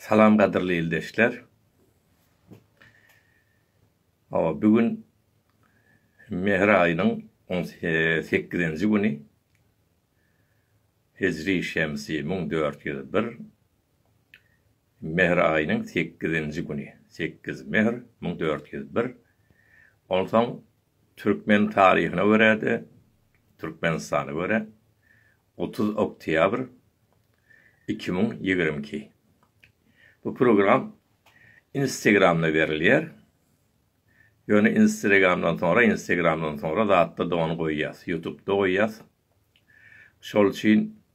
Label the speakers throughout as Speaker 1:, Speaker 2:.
Speaker 1: Salam gadyrly ildeşler. Hawa, bu gün Mehr aýynyň on sekizinji güni. Hijri şemsi müň dört ýüz bir. Mehr aýynyň sekizinji güni, sekiz mehr, müň dört ýüz bir, onsoň türkmen taryhyna görä-de, Türkmenistana görä, otuz oktýabr, iki müň ýigrimi iki. Bu program Instagramda berilýär. Ýöne Instregamdan soňra, Instagramdan soňra zatda-da ony goýýas, Ýutubda goýýas. Şol üçin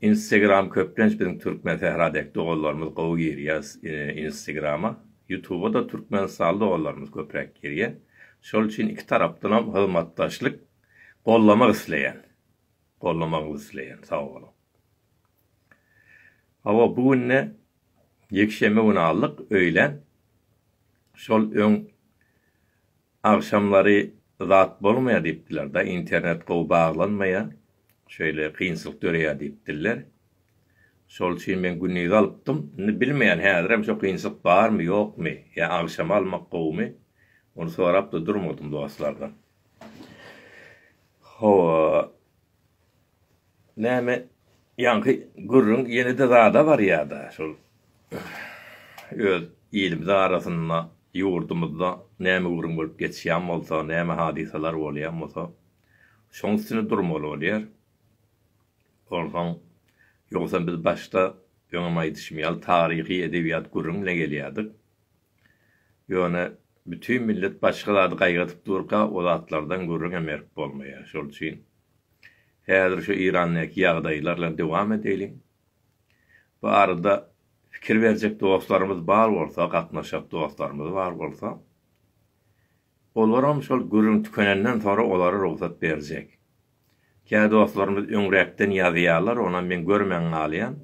Speaker 1: Instagram köplenç biziň türkmen sähra dek doganlarymyz gowy girýär instagrama. Ýutuba-da türkmenistanly doganlarymyz köpräk girýär. Şol üçin iki tarapdanam hyzmatdaşlyk gollamak isleýän. Gollamagy isleýän. Sag boluň. Hawa bu günde ýekşenbe güni aldyk öýlän. Şol öň Agşamlary zat bolmaýar diýipdiler da internet gowy baglanmaýar şeýle kynçylyk döreýär diýipdiler. Şol üçin men gündiz alypdym. Indi bilmeýän häzirem şo kynçylyk barmy ýokmy ýa agşama almak gowumy ony sorapda durmadym dostlardan. Hawa Näme ýaňky gürrüň ýene-de zada barýa-da şol öz ilimiz arasynda, ýurdumyzda näme gürrüň bolup geçýän bolsa, näme hadysalar bolýan bolsa, şoň üstünde durmaly bolýar. Onsoň, ýogsam biz başda öňem aýdyşym ýaly taryhy edebiýat gürrüň bilen gelýärdik. Ýöne bütin millet başga zady gaýgadyp durka o zatlardan gürrüňem berip bolmaýar. Şol üçin häzir şu Irandäki ýagdaýlar bilen dowam edeliň. Bu arada pikir berjek dostlarymyz bar bolsa, gatnaşjak dostlarymyz bar bolsa, olaram şol gürrüň tükenenden soňra olara rugsat berjek. Kä dostlarymyz öňräkden ýazýarlar, onam men görmän galýan.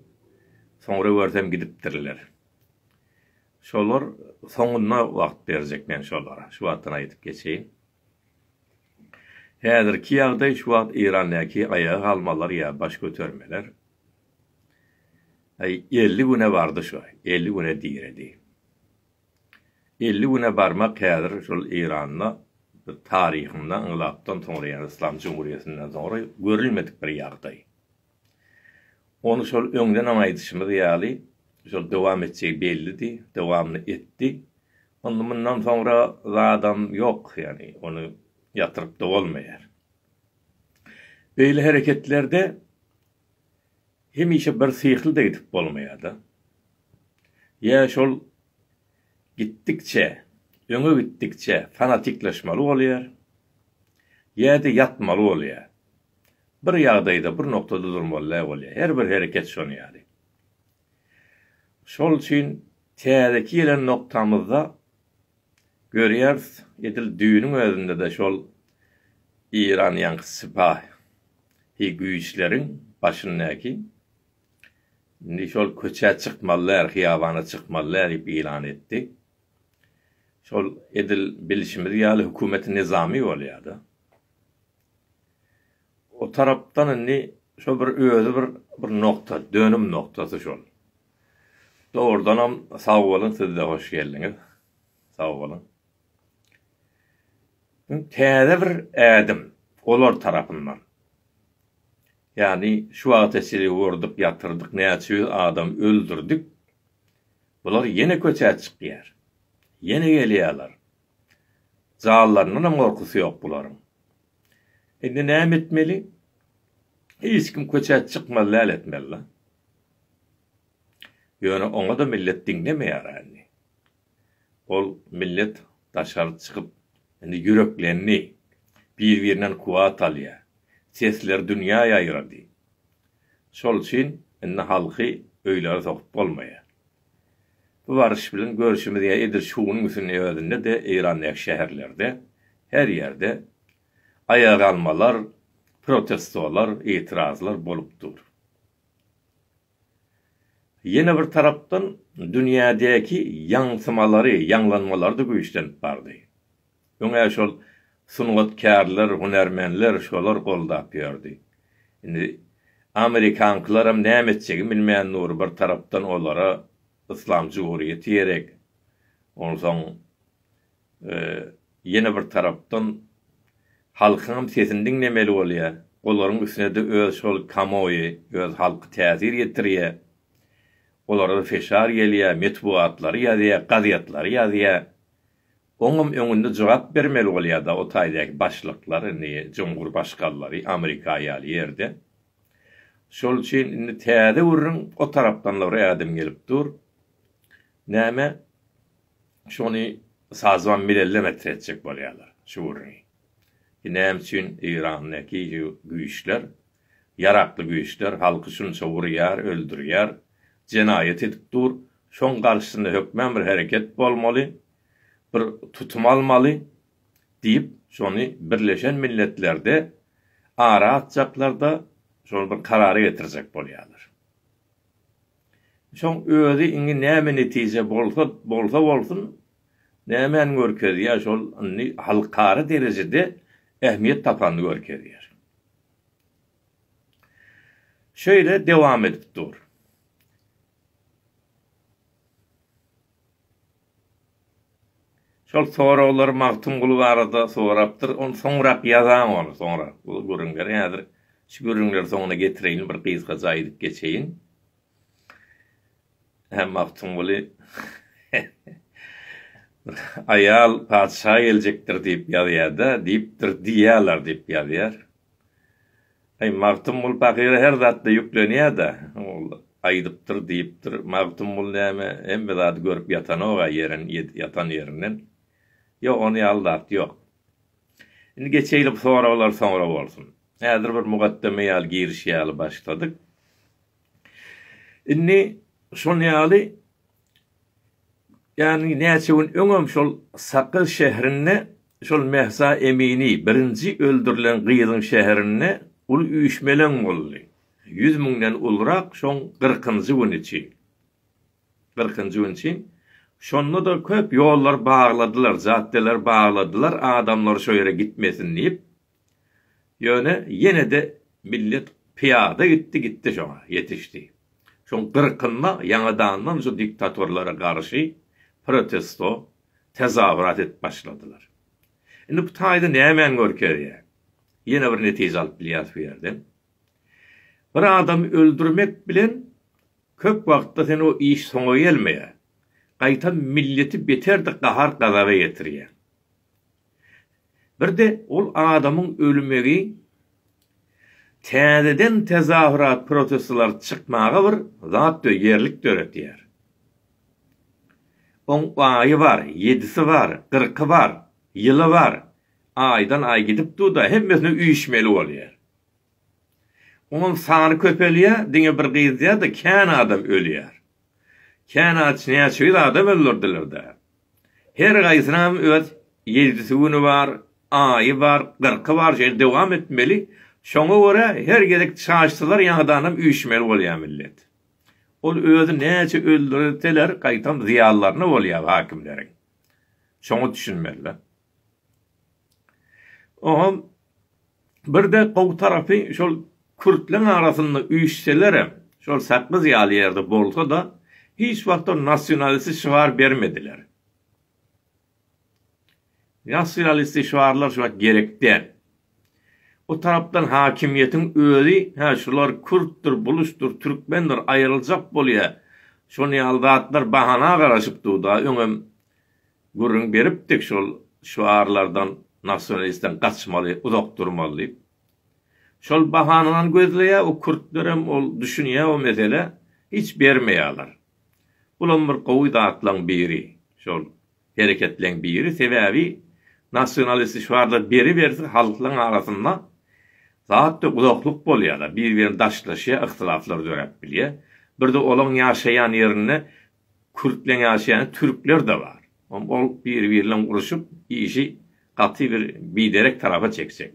Speaker 1: Soňra görsem gidipdirler. Şolar soňunda wagt berjek men şolara, şu wagtdan aýdyp geçeýin. Häzirki ýagdaý şu wagt Eýrandäki aýaga galmalar ýa baş götermeler elli güne bardy şo, elli güne diredi. Elli güne barmak häzir şol Eýranda taryhynda ynglapdan soňra ýa-da Yslam jumhuriýetinden soňra görülmedik bir ýagdaý. Ony şol öňdenem aýdyşymyz ýaly, şol dowam etjegi bellidi, dowamyny etdi. Onda mundan soňra zadam ýok, ýagny ony ýatyryp-da bolmaýar. Beýle hereketlerde hemişe birsyhly-da gidip bolmaýar-da. Ýa şol gitdikçe, öňe gitdikçe fanatikleşmeli bolýar, ýa-da ýatmaly bolýar. Bir ýagdaýda, bir noktada durmaly-da bolýar. Her bir hereket şonuň ýaly. Şol üçin täzeki gelen noktamyzda görýäris, edil düýnüň özünde-de şol Eýran ýaňky sypahy güýçleriň başyndaky Indi şol köçä çykmaly däl, hyýabana çykmaly däl diýip ýylan etdi. Şol edil bilşimiz ýaly hökümeti nyzamy bolýa-da. O tarapdan indi şol bir özi bir bir nokta, dönüm noktasy şol. Dogrudanam sag boluň siz-de hoş geldiňiz. Sag boluň. Täze bir ädim olar tarapyndan. Ýagny şu wagta çenli urdyk ýatyrdyk näçe ýüz adam öldürdik. Bular ýene köçä çykýar. Ýene gelýärler. Janlaryndanam gorkusy ýok bularyň. Indi näme etmeli? Hiç kim köçä çykmaly däl etmeli-la. Ýöne oňa-da millet diňlemeýär indi. Ol millet daşary çykyp, indi ýüreklendi, bir-birinden kuwwat alýar. Sesleri dünýä ýaýrady. Şol üçin indi halky öýlere sokup bolmaýar. Bu baryş bilen görşümiz ýa edil şu günüň üstüniň öýündede, Eýrandaky şäherlerde, her ýerde aýagalmalar, protestolar, itirazlar bolup dur. Ýene bir tarapdan, dünýädäki ýaňsymalary, ýaňlanmalary-da güýçlenip bardy. Öň-ä şol sungatkärler, hünärmenler şolary goldap ýördi. Indi amerikankylaram näme etjegin bilmän dur, bir tarapdan olara yslam jumhuriýeti gerek, onsoň ýene bir tarapdan halkyňam sesini diňlemeli bolýar. Olaryň üstüne-de öz şol kamoýy, öz halky täsir ýetirýär. Olara feşar gelýär, metbugatlary ýazýar, gazetlary ýazýar. Oňam öňünde jogap bermeli bolýar-da o taýdaky başlyklar, indi jumhurbaşgallary Amerika ýaly ýerde. Şol üçin indi täze gürrüň o tarapdan-da bir ädim gelip dur. Näme? Şony sazwan milellem etretjek bolýarlar şu gürrüňi. Ki näme üçin Eýrandaky şu güýçler, ýarakly güýçler halky şunça urýar, öldürýär, jenaýat edip dur, şoň garşysynda hökmän bir hereket bolmaly, bir tutum almaly diýip, şony Birleşen Milletlerde ara atjaklar-da, şony bir karara getirjek bolýarlar. Şoň özi indi näme netije bolsa bolsa bolsun nämäni görkezýär şol indi halkara derejede ähmiýet tapanyny görkezýär. Şeýle dowam edip dur. Şol soraglary Magtymguly barada sorapdyr. Ony soňrak ýazaň ony soňrak bu gürrüňleri. Häzir şu gürrüňleri soňuna getireýin bir gysgaça aýdyp geçeýin. Hä Magtymguly aýal patyşa geljekdir diýip ýazýada diýipdir diýýäler diýip ýazýar. Aý, Magtymguly pahyra her zatda ýüklenýär-dä. Ol aýdypdyr, diýipdir. Magtymguly näme, hemme zady görüp ýatanok-a ýeren, ýatan ýerinden. Ýok, ony ýaly zat ýok. Indi geçeýli bu soraglar soňra bolsun. Häzir bir mugaddeme ýaly giriş ýaly başladyk. Indi şol ýaly, ýagny näçe gün öňem şol Sakyr şährinde Şol Mehsa Emini birinji öldürilen gyzyň şäherinde uly üýşmeleň boldy. Ýüz müňden ulurak şoň gyrkynjy güni çyn. Gyrkynjy güni çyn. Şonda-da köp ýollar bagladylar, jaddeler bagladylar, adamlar şo ýere gitmesin diýip. Ýöne ýene-de millet pyýada gitdi, gitdi şoňa, ýetişdi. Şoň gyrkynda ýaňadandan şu diktatorlara garşy protesto, tezawrat edip başladylar. Indi bu taýda nämäni görkezýär? Ýene bir netije alyp bilýäris bu ýerden. Bir adamy öldürmek bilen köp wagtda sen o iş soňa gelmeýär. Gaýtam milleti beter-de gahar-gazaba ýetirýäň. Bir-de ol adamyň ölmegi täzeden tezahürat protestleri çykmaga bir zat dö ýerlik döretýär. Oň aýy bar, ýedisi bar, gyrky bar, ýyly bar, aýdan aý gidip dur-da, hemmesine üýşmeli bolýar. Oňam sany köpelýär, diňe bir gyzýar-da, kän adam ölýär. Känaç näçe ýüz adam öldürdiler-dä? Her gaýsynam öz ýejdisi güni bar, aýy bar, gyrky bar şeýle dowam etmeli, şoňa görä her gezek çaşsalar ýaňadanam üýşmeli bolýar millet. Ol özi näçe öldürseler gaýtam zyýanlaryna bolýar hakimleriň. Şoňa düşünmeli-dä. Oňa birde gowy tarapy şol kürtleň arasynda üýşselerem, şol Sakgyz ýaly ýerde bolsa-da, hiç wagtam nasionalisti şygar bermediler. Nasionalisti şygarlar şu wagt gerek däl. O tarapdan hakimiýetiň özi, hä, şular kürtdür, buluşdyr, türkmendir, aýryljak bolýar, şony ýaly zatlar bahana garaşyp dur-da, öňem Gürrüň beripdik şol şüarlardan nasionalistden gaçmaly uzak durmaly diýip. Şol bahanany gözleýär o kürtlerem ol düşünýär o meselä hiç bermeýärler. Bulam bir gowy zatlaň biri şol hereketleň biri sebäbi nasionalist şüarlar beriberse halklaň arasynda zat ýok uzaklyk bolýar bir birini daşlaşýar yhtylaflar döräp bilýär birde olaň ýaşaýan ýerinde Kürt bilen ýaşaýan türkler-de bar. Ol biri-biri bilen uruşyp, işi gaty bir biderek tarapa çekjek.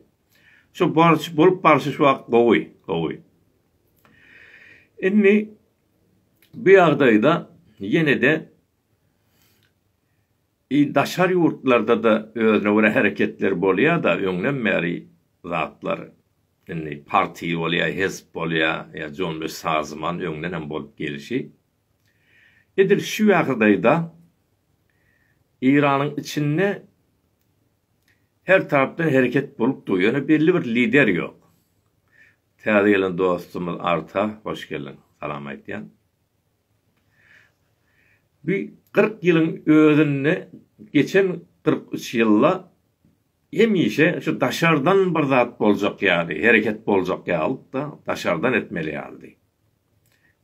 Speaker 1: Şu barşy, bolup barşy şu wagt gowy, gowy. Indi bu ýagdaýda ýene-de i daşary ýurtlarda-da özüne görä hereketler bolýa-da, öňden bäri zatlar indi parti bolýa, hezp bolýa, ýa Jonbes Sazman öňden hem bolup gelşi, Edil şu ýagdaýda Eýranyň içinde her tarapdan hereket bolup dur, ýöne belli bir lider ýok. Täze gelen dostumyz Arta hoş geldiň, salam aýtýan. Bu kyrk ýylyň özünde, geçen kyrk üç ýylda hemişe şu daşardan bir zat boljak ýaly, hereket boljak ýalydy-da, daşardan etmeli ýalydy.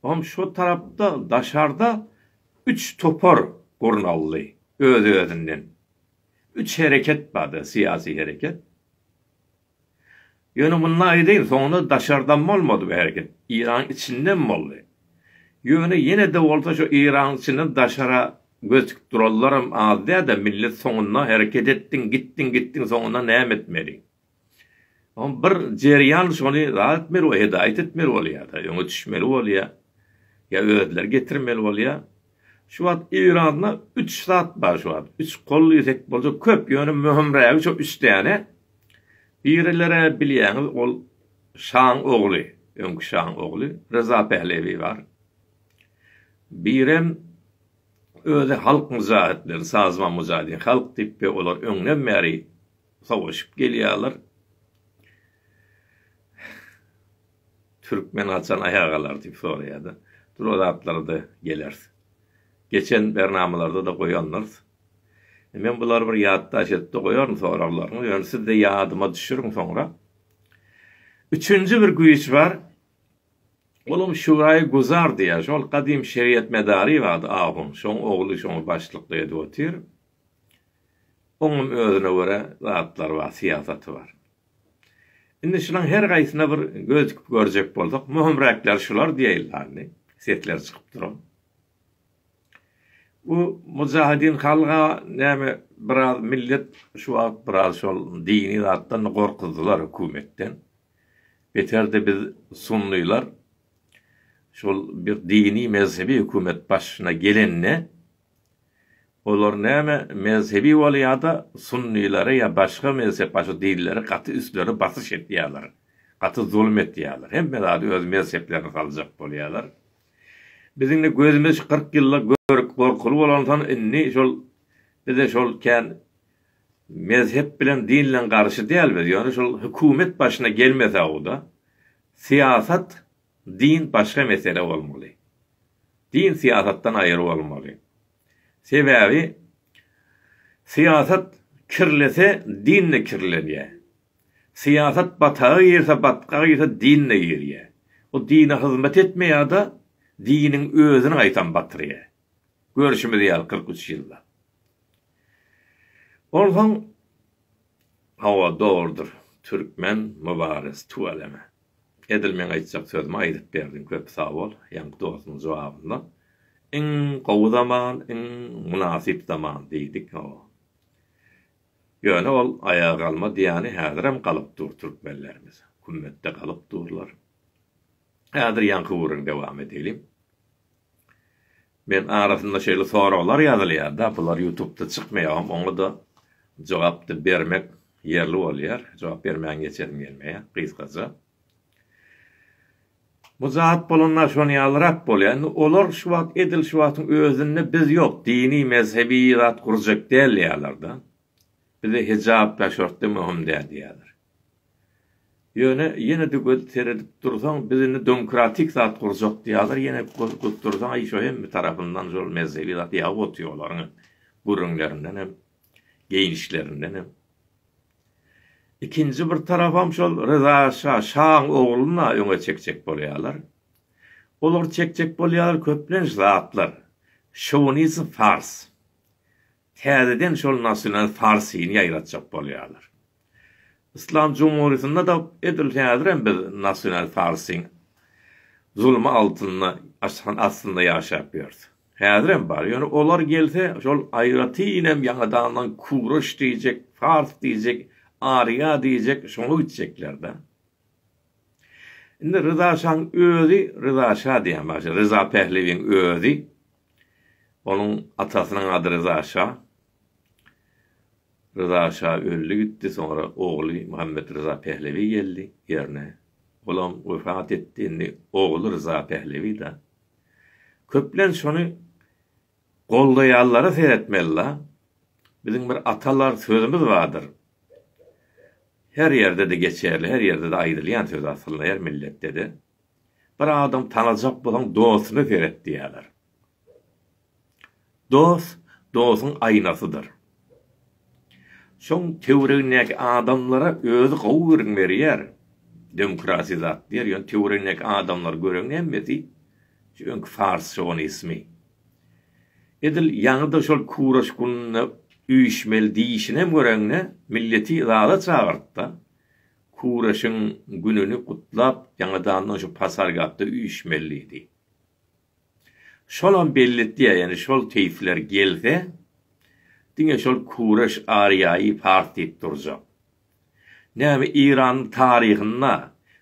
Speaker 1: Hom şo tarapda daşarda üç topar gurnaldy öz-özünden. Üç hereket bardy, syýasy hereket. Ýöne munda aýdaýyn, soňunda daşardan bolmady bu hereket, Yragyň içinden boldy. Ýöne ýene-de bolsa şo Yragyň içinden daşara göz tikip duranlaram az däl-de, millet soňunda hereket etdiň, gitdiň, gitdiň, soňunda näme etmeli? Oň bir jerýan şony zat etmeli we hedaýat etmeli bolýar-da, öňe düşmeli bolýar. Ýa özleri getirmeli bolýar. Şu wagt Eýranda üç zat bar şu wagt. Üç kol diýsek boljak köp, ýöne möhümrägi şo üç däne. Birilere bilýäňiz ol şaň ogly, öňki şaň ogly Ryza Pählewi bar. Birem özi halk myjahytleri, Sazman Mujahidin halk diýip we olar öňden bäri Sowaşyp gelýärler. Türkmen haçan aýaga galar diýip soraýarda. Dur o zatlara-da geleris. Geçen bernamalarda-da goýandyrs. Men bulary bir ýatdaş edip-de goýaryn soraglaryňyzy. Ýöne siz-de ýadyma düşüriň soňra. Üçünji bir güýç bar. Olam Şuraýy Guzar diýýär. Şol gadym şeriýet medary bardy ahun. Şoň ogly şoňa başlyklyk edip otyr. Oňam özüne görä zatlary bar, syýasaty bar. Indi şulaň her gaýsyna bir göz dikip görjek bolsak, möhümräkleri şular diýeýli indi, sesleri çykyp duran. Bu Mujahedin Halga näme biraz millet şu wagt biraz şol dini zatdan gorkuzdylar hökümetden. Beterde biz sunnylar şol bir dini mezhebi hökümet başyna gelende, Olar näme mezhebi bolýada sunnilara ýa başga mezhep başy dinlere gaty üstleri basyş etýaler gaty zulum etýaler hemme zady öz mezheplerine saljak bolýaler biziňde gözümiz kyrk ýylda görüp gorkuly bolanson indi şol bize şol kän mezhep bilen dinlen garşy däl biz ýöne şol hükumet başyna gelmesauda syýasat Din başga mesele bolmaly. Din syýasatdan aýry bolmaly. Sebäbi syýasat kirlese din-de kirlenýär. Syýasat bataga girse, batgaga girse din-de girýär. Bu dine hyzmat etmeýär ýa-da diniň özüni gaýtam batyrýar. Görşümiz ýaly kyrk üç ýyllap. Onsoň, hawa dogrudyr, türkmen mübares, tüweleme. Edil meň aýtjak sözümi aýdyp berdiň köp sag bol ýaňky dostuň jogabynda iň gowy zaman iň mynasyp zaman diýdik hoo ýöne ol aýaga galma diýýäni häzirem galyp dur türkmenlerimiz kümmetde galyp durlar häzir ýaňky ugryn dowam edeliň. Men arasynda şeýle soraglar ýazylýarda bular ýutubda çykmaýagam oňada jogapda bermek ýerli bolýar jogap bermän geçesim gelmeýär gysgaja. Bu zat bolanda şonýalyrap bolýar indi olar şu wagt edil şu wagtyň özünde biz ýok dini mezhebi zat gurjak dälýärlerde. Bize hijap daşörtde möhüm däl diýýärler. Ýöne ýene-de göz seredip dursaň, biz indi domkratik zat gurjak diýýärler, ýene göz gyp dursaň, aý şo hem bir tarapyndan şol mezhebi zat ýagy otýar olaryň hem, gürrüňlerinden hem, geýnişlerinden hem. Ikinji bir tarapam şol Ryza şa, şaň ogluna öňe çekjek bolýarlar. Olar çekjek bolýarlar köplenç zatlar, şowinizm fars. täzeden şol nasional farsyny ýaýratjak bolýarlar. Yslam jumhurýetinde-de edil häzirem biz nasional farsyň zulmy altynda, aşan astynda ýaşap ýörüs. Häzirem bar. Ýöne olar gelse, şol aýratynam ýaňadandan kureş diýjek, fars diýjek, arýa diýjek, şoňa gitjekler-de. Indi Ryza şaň özi, Ryza şa diýen başy, Ryza Pählewiň özi Onuň atasynyň ady Ryza şa. Ryza şa öldi gitdi, soňra ogly Muhammet Ryza Pehlewi geldi ýerine. Olam wepat etdi, indi ogly Ryza Pehlewi-da. Köplenç şony goldaýanlara seretmeli-la. Biziň bir atalar sözümiz bardyr. Her ýerde-de geçerli, her ýerde-de aýdylýan söz aslynda, her milletde-de. Bir adam tanajak bolaň dostuna seret diýerler. Dost dostuň aýnasydyr. Şoň töwregindäki adamlara özi gowy gürrüň berýär. Demokratiýa zat diýer, ýöne töwregindäki adamlary göreňde hemmesi şu öňki fars şowinismi. Edil ýaňy-da şol kuraş gününde üýşmeli diýişinem göreňde milleti zada çagyrt-da. Kuraşyň gününi gutlap ýaňadandan şu pasargapda üýşmelidi. Şolam belletýär, ýani şol keýpler gelse, diňe şol kuraş Ariýaýy pars diýip durjak. Näme Iranyň taryhynda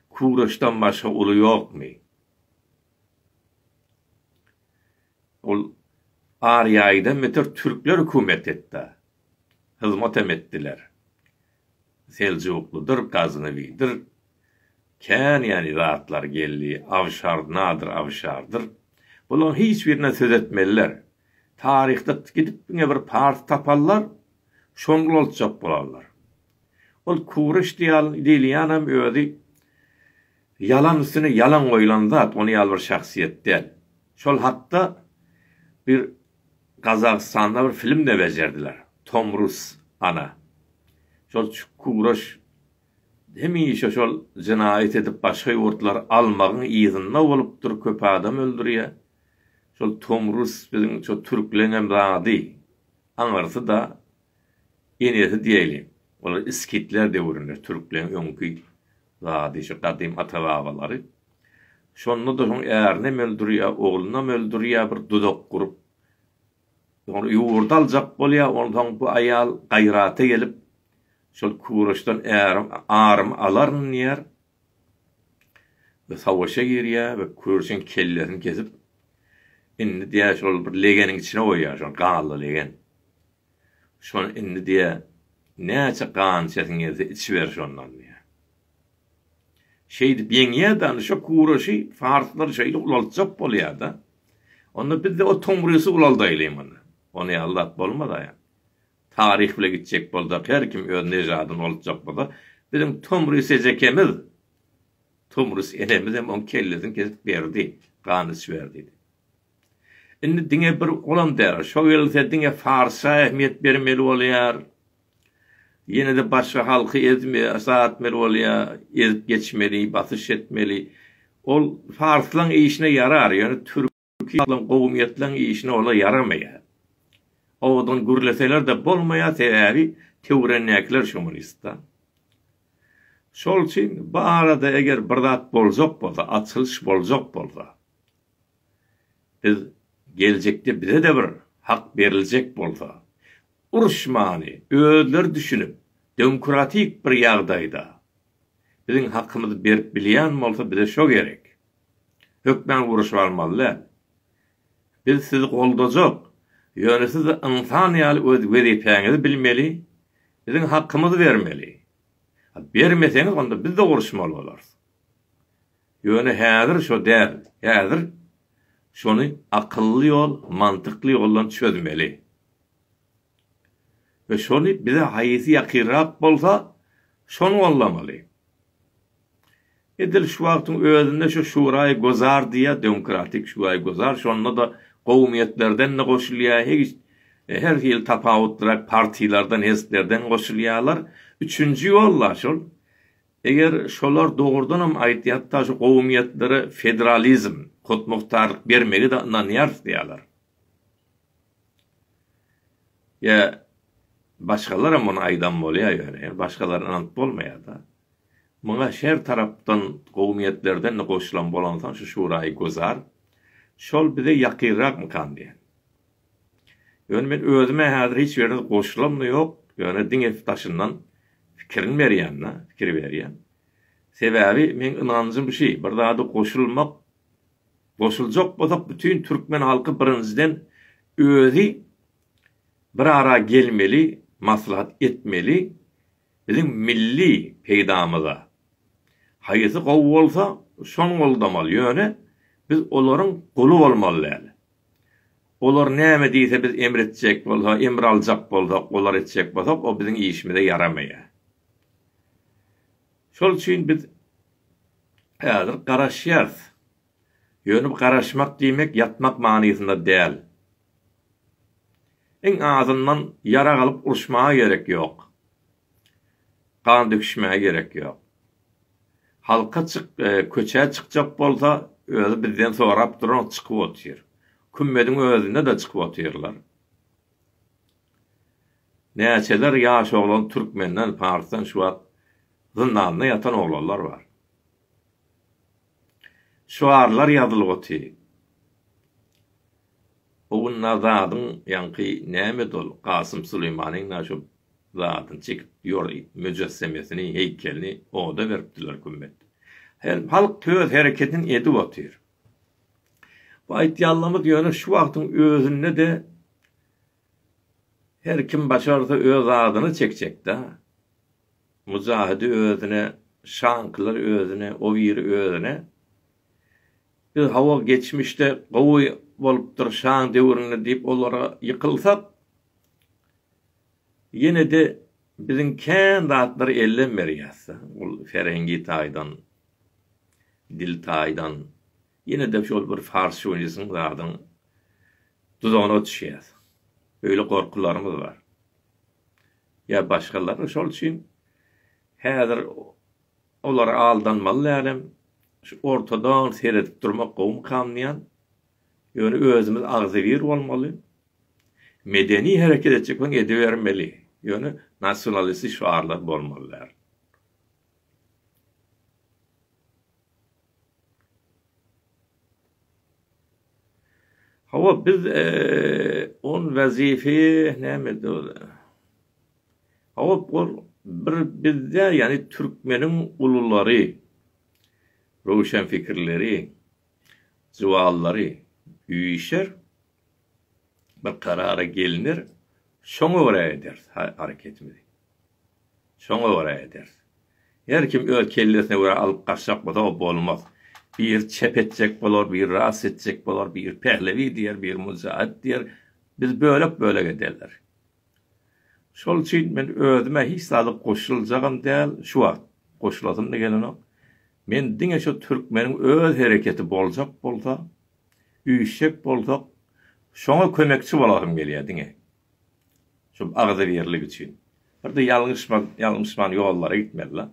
Speaker 1: kuraşdan başga uly ýokmy? Ol Ariaýda Müsür türkler hökümet etda, hyzmatem etdiler. Seljuklydyr, Gaznawidir, kän ýany zatlar geldi, Awşar, Nadyr Awşardyr. Bulaň hiç birine söz etmeliler. Taryhda gidip diňe bir pars taparlar, şony ulaltjak bolarlar. Ol Kureş diýilýänem özi Ýalan üstüne ýalan goýulan zat ony ýaly bir şahsyýet däl. Şol hakda bir Gazagystanda bir filmde bejerdiler. Tomrus ana. Şol çukuraş hemişe şol jenaýat edip başga ýurtlary almagyň yzynda bolupdyr köp adam öldürýä. Şol Tomrus biziň şo türkleňem zady aňyrsyda. Enesi diýeli, olar iskitler döwründe türkleň öňki zady şu gadym ata-babalary. Şonda-da soň ärinem öldürýä, oglunam öldürýä bir duzak gurup. Soň ýurdy aljak bolýa, onsoň bu aýal gaýrata gelip, şol Kuroçdan ärim, arymy alaryn diýer. we savaşa girýär we kürşiň kellesini kesip indi diýýär şol bir legeniň içine goýýar şol gazly legen şony indi diýýär näçe gan içesiň gelse içiber şondan diýýär şeýdip ýeňýärde indi şo kuraşy farslar şeýle ulaltjak bolýarda onda bizde o tomrysy ulaldaýlymy onda ony aldap bolmaz aýa Taryh bile gitjek bolsa, her kim öz nežadyny oltjak bolsa, biziň Tomris ejekemiz, Tomris enemizem oň kellesini kesip berdi, gan içiber diýdi. Indi diňe bir olam däl, şo gelse diňe Farsa ähmiýet bermeli bolýar. Ýene-de başga halky ezme, zatmeli bolýar, ezip geçmeli, basyş etmeli. Ol Farslaň işine ýarar, ýöne Türk. Çünki olam gowumyýetleň işine ola ýaramaýar. Owadan gürleseler-de bolmaýar, sebäbi töwrendäkiler şomunistda. Şol üçin bu arada eger bir zat boljak bolsa, açylyş boljak bolsa, biz geljekde bize-de bir hak beriljek bolsa, uruşmany özleri düşünip, demokratik bir ýagdaýda biziň hakymyzy berip bilýän bolsa bize şo gerek. Hökman guruşyp almaly däl. Biz sizi goldajak. Ýöne siz ynsan ýaly öz wezipäňizi bilmeli, biziň hakymyzy bermeli. Bermeseňiz onda biz-de guruşmaly bolarys. Ýöne häzir şo däl. Häzir şony akylly ýol, mantykly ýoldan çözmeli. we şony bize haýsy ýakynrak bolsa, şony goldamaly. Edil şu wagtyň özünde şu Şuraý Gozar diýýär, Demokratik Şuraý Gozar, şonda-da gowumiýetlerden-de goşulýar, hegiç, her hili tapawutlyrak partiýalardan, hezplerden goşulýarlar. Üçünji ýol-la şol. Eger şolar dogrudan hem aýtýar, hatda şu gowumiýetlere federalizm, hutmuhtarlyk bermegi-de ynanýarys diýýärler. Ýa başgalaram muny aýdan bolýar ýöne başgalara ynanyp bolmaýada. Muňa şer tarapdan gowy niýetlerden-de goşulan bolansoň şu şuraýy gözar. Şol bize ýakynrakmykan diýen. Ýöne men özüm-ä häzir hiç ýerine goşulamda ýok, ýöne diňe daşyndan pikirini berýän-de, pikir berýän. Sebäbi meň ynanjym şi, bir zada goşulmak Goşuljak bolsak bütin türkmen halky birinjiden özi bir ara gelmeli maslahat etmeli biziň milli peýdamyza haýysy gowy bolsa şony goldamaly ýöne biz olaryň guly bolmaly däl olar näme diýse biz emr etjek bolsa emr aljak bolsak olar etjek bolsak o biziň işimize ýaramaýa şol üçin biz Häzir garaşýarys. Ýöne garaşmak diýmek ýatmak manysynda däl. Iň azyndan ýarag alyp uruşmaga gerek ýok. Gan döküşmäge gerek ýok. Halka çyk, köçä çykjak bolsa, özi bizden sorap duran çykyp otyr. Kümmediň özünde-de çykyp otyrlar. Näçeler ýaş oglan türkmenden, parsdan şu wagt zyndanda ýatan oglanlar bar. Şygarlar ýazylyp oty. O gün na zadyň ýaňky nämedi ol Kasym Suleýmanyň na şu zadyny çekip ýor müjessemesini, heýkelini oda beripdiler kümmet. Her halk töz hereketini edip otyr. Bu aýtýanlarymyz ýöne şu wagtyň özünde de Her kim başarsa öz zadyna çekjekdä. Mujahidi özüne, Şankylary özüne, o biri özüne. Biz hawa geçmişde gowy bolupdyr Şaň döwründe diýip olara ýykylsak, ýene-de biziň kän zatlary elden berýäs-dä. Ol ferengi taýdan, dil taýdan, Ýene-de şol bir fars şowiniziň zadyň duzagyna düşýäs. Öýle gorkularymyz bar. Ýa başgalar şol üçin häzir olara aldanmaly dälem, şu ortadan seredip durmak gowumykam diýýän. Ýöne özümiz agzybir bolmaly. Medeni hereket etjek bolsaň edibermeli. Ýöne nasionalistik şygarlar bolmaly däl. Hawa, biz on wezify näme döwle. Hawa, ol bir bizde, ýagny türkmeniň ululary, röwşenpikirleri, jywallary üýşer, bir karara gelner, şoňa görä ederis hareketimizi. Şoňa görä ederis. Her kim öz kellesine görä alyp gaçjak bolsa o bolmaz. Biri çep etjek bolar, biri rast etjek bolar, biri Pehlewi diýer, biri Mujahit diýer. Biz bölek-bölek ederler. Şol üçin men özüme hiç zada goşuljagam däl şu wagt. Goşulasym-da gelenok. Men diňe şu türkmeniň öz hereketi boljak bolsa, Üýşjek bolsak, şoňa kömekçi bolasym gelýär diňe. Şu agzybirlik üçin. Bir-de ýalňyşmak, ýalňyşman ýollara gitmeli-la.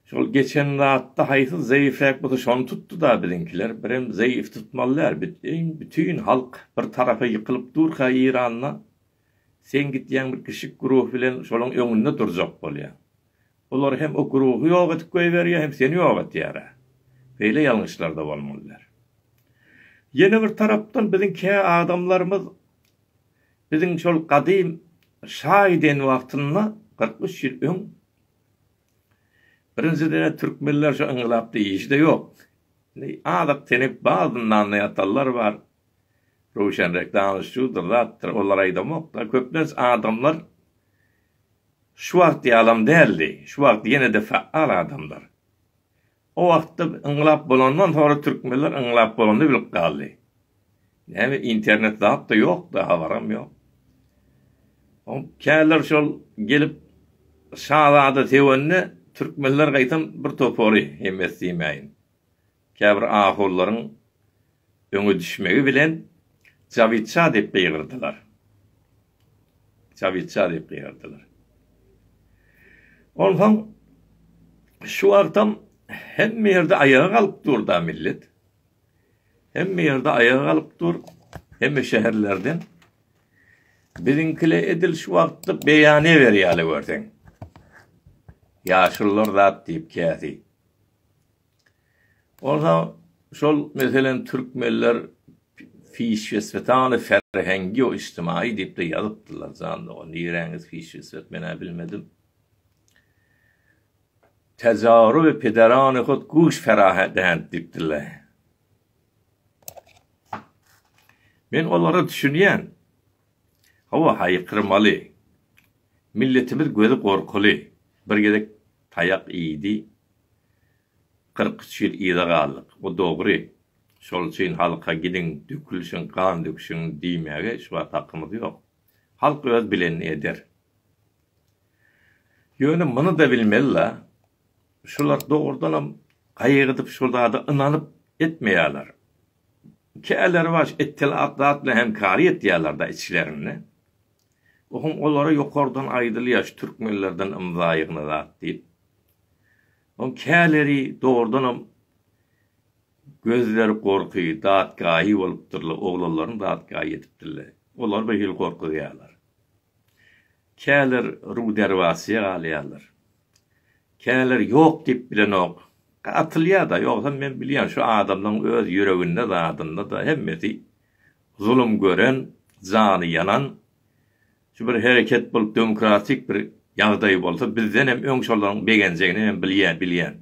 Speaker 1: Şol geçen zatda haýsy zeýifräk bolsa şony tutdy-da biziňkiler. Birem zeýif tutmaly däl. Büteýin, bütin halk bir tarapa ýykylyp durka Eýranda, sen gidýäň bir kişik guruh bilen şolaň öňünde durjak bolýaň. Olar hem Okrugy ýok edip goýberýär, hem seni ýok etýär-ä. Beýle ýalňyşlar-da bolmaly der. Ýene bir tarapdan biziň kä adamlarymyz biziň şol gadym şaýden wagtynda, kyrk üç ýyl öň, birinjiden-ä türkmenler şu yngylap diýişi-de ýok. Indi azyk tenip bar, zyndanda ýatanlar bar. Röwşenrek danyş şudur, zatdyr, olar aýdamok-da. Köplenç adamlar Şu wagt ýalam däldi. Şu wagt ýene-de faal adamlar. O wagtda yňlap bolandan soňra türkmenler yňlap bolanda bilip galdy. Näme internet zat-da ýokdy, habaram ýok. O käler şol gelip şazada sögende türkmenler gaýtam bir topary hemmesi diýmäýin. Käbir ahulylaryň öňe düşmegi bilen Jawitşa diýip gygyrdylar. Jawitşa diýip gygyrdylar. Onsoň şu wagtam hemme ýerde aýaga galyp dur-da millet. Hemme ýerde aýaga galyp dur. Hemme şäherlerden. Biziňkile edil şu wagtda beýane berýärler görseň. Ýaşulular zat diýip käsi. Bolsa şol meselem türkmenler fişfesfetany ferhengiu içtimaýy diýip-de ýazypdyrlar jan dogan niräňiz fişfesfet men-ä bilmedim. Tejarubi pederani hut guş ferahedendi diýipdirler. Men olara düşünýän. Hawa, haýykyrmaly. Milletimiz gözi gorkuly. Bir gezek taýak iýdi. Kyrk üç ýyl yza galdyk. Bu dogry. Şol üçin halka gidiň, dökülişiň, gan döküşiň diýmäge şu wagt hakymyz ýok. Halk öz bilenini eder. Ýöne muny-da bilmeli-la, şular dogrudanam gaýgydyp şol zada ynanyp etmeýärler. Kälerbaş ittilatlatla hem kary etýärler-da içlerinde. Ohuň olara ýokardan aýdylýar şu türkmenlerden ymza ýygna zat diýip. Oň käleri dogrudanam gözleri gorky, datgaýy bolupdyrla, oglanlaryň datgaýy ýetipdirle. Olar bir hili gorkuzýarlar. Käler ruderbasiýa galýarlar. Käler ýok diýip bilenok. Atylýa-da, ýogsam men bilýän şu adamlaň öz ýüreginde zadynda-da hemmesi zulum gören, jany ýanan. Şu bir hereket bolup demokratik bir ýagdaý bolsa bizdenem öň şolaryň begenjegini men bilýän, bilýän.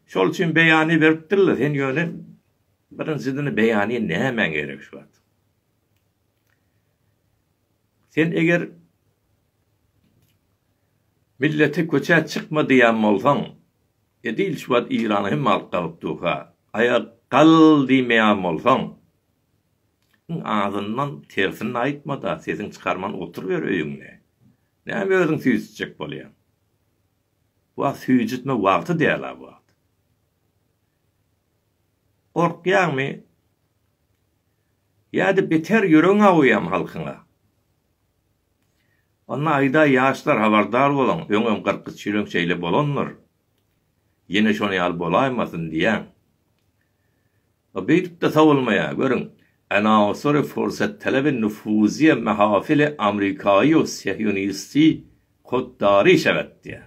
Speaker 1: Şol üçin beýany beripdirler, sen ýöne birinjidini beýany nämäň gerek şu wagt. Sen eger Millete köçä çykma diýýän bolsaň, edil şu wagt Irana hemme alyp galyp durka, aýa gal diýmeýän bolsaň, iň azyndan tersini aýtma-da, sesiňi çykarman oturyber öýüňde. Näme özüňi süýjütjek bolýaň? Bu wagt süýjütme wagty däl-ä bu wagt. Gorkýaňmy? Ýa-da beter ýüregiň awuýam halkyňa? Onda aýdaý ýaşlar habardar boluň, öňem kyrk üç ýyl öň şeýle bolandyr. Ýene şonuň ýaly bolaýmasyn diýýän. A beýdip-de sowulmaýar, görüň, anaosory fursattalebe nufuzyýe mahafili amrikaýu sehyunisti koddary işe gatdýar.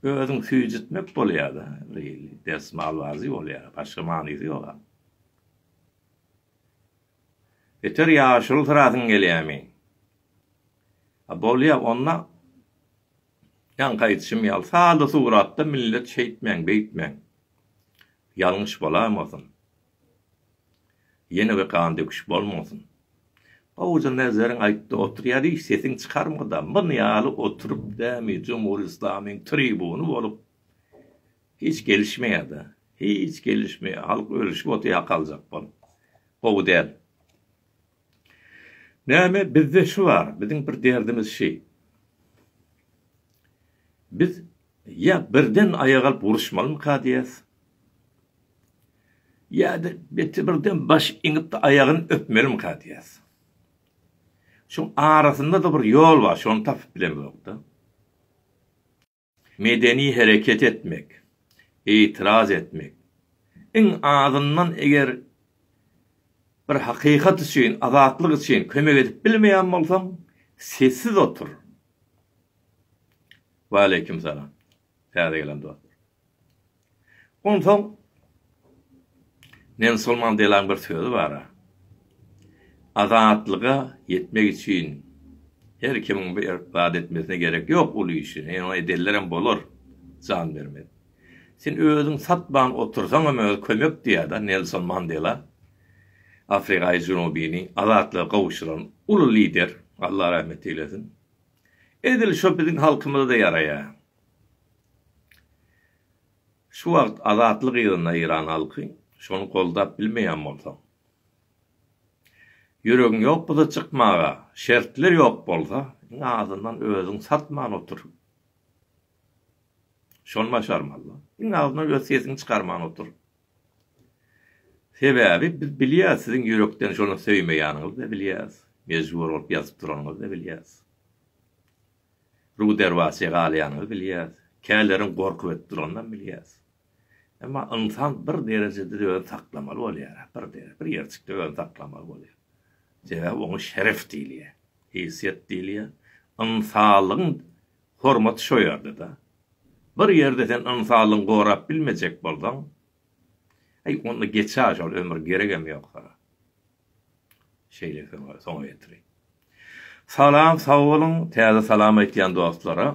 Speaker 1: Özüň süýjütmek bolýada beýle desmalbazy bolýar başga manysy ýoga. Beter ýaşulsyrasyň gelýämi? A bolýa onda ýaňky aýdyşym ýaly salda suratda millet şeýtmäň beýtmäň ýalňyş bolamosyn. Ýene bir gan döküş bolmasyn. Howja Nezeriň aýtdy oturýar hiç sesiň çykarmada mun ýaly oturyp dämi jumhur islamyň tribuny bolup hiç gelişmeýada hiç gelişmeýa halk ölüşip otyr ýakaljakbolup gowy däl. Näme bizde şy bar, biziň bir derdimiz şy. Biz ýa birden aýak alyp uruşmalymyka diýýäs. Ýa-da beti birden baş iňip-de aýagyny öpmelimika diýýäs. Şuň arasynda-da bir ýol bar, şony tapyp bilemzok-da. Medeni hereket etmek, itiraz etmek, iň azyndan eger bir hakykat üçin, azatlyk üçin kömek edip bilmeýän bolsaň, sessiz otur. Waleýkim salam, täze gelen dostlar. Onsoň Nelson Mandelanyň bir sözi bar. Azatlyga ýetmek üçin her kimiň bir zat etmesine gerek ýok, uly işi, ýöne edenlerem bolar, jan bermez. Sen özüňi satman otursaň hem özi kömek diýýär-de Nelson Mandela. Afrikaýy Junubyny azatlyga gowşuran uly lider, Alla rahmet eýlesin. Edil şo biziň halkymyza-da ýaraýar. Şu wagt azatlyk ýylynda Eýran halky şony goldap bilmeýän bolsa. Ýüregiň ýok bolsa çykmaga şertler ýok bolsa iň azyndan özüň satman otur. Şony başarmaly. Iň azyndan öz sesiňi çykarman otur. Sebäbi biz bilýäs siziň ýürekden şony söýmeýäniňizi bilýäs. Mejbur bolup ýazyp duranyňyzy bilýäs. Ruderwasy galýanyny bilýäs, käleriň gorkup edip duranynam bilýäs. Emma ynsan bir derejede-de özüni saklamaly bolýar-a, bir dereje, bir ýerjikde özüni saklamaly bolýar. Sebäbi oňa şeref diýilýär, heýsiýet diýilýär. Ynsanlygyň hormaty şo ýerde-de. Bir ýerde sen ynsanlygyňy gorap bilmejek bolsaň, aý, onda geç-ä şol ömür, geregem ýok sana. Şeýle soňa soňa ýetiri. Salam sag boluň täze salam aýtýan dostlara.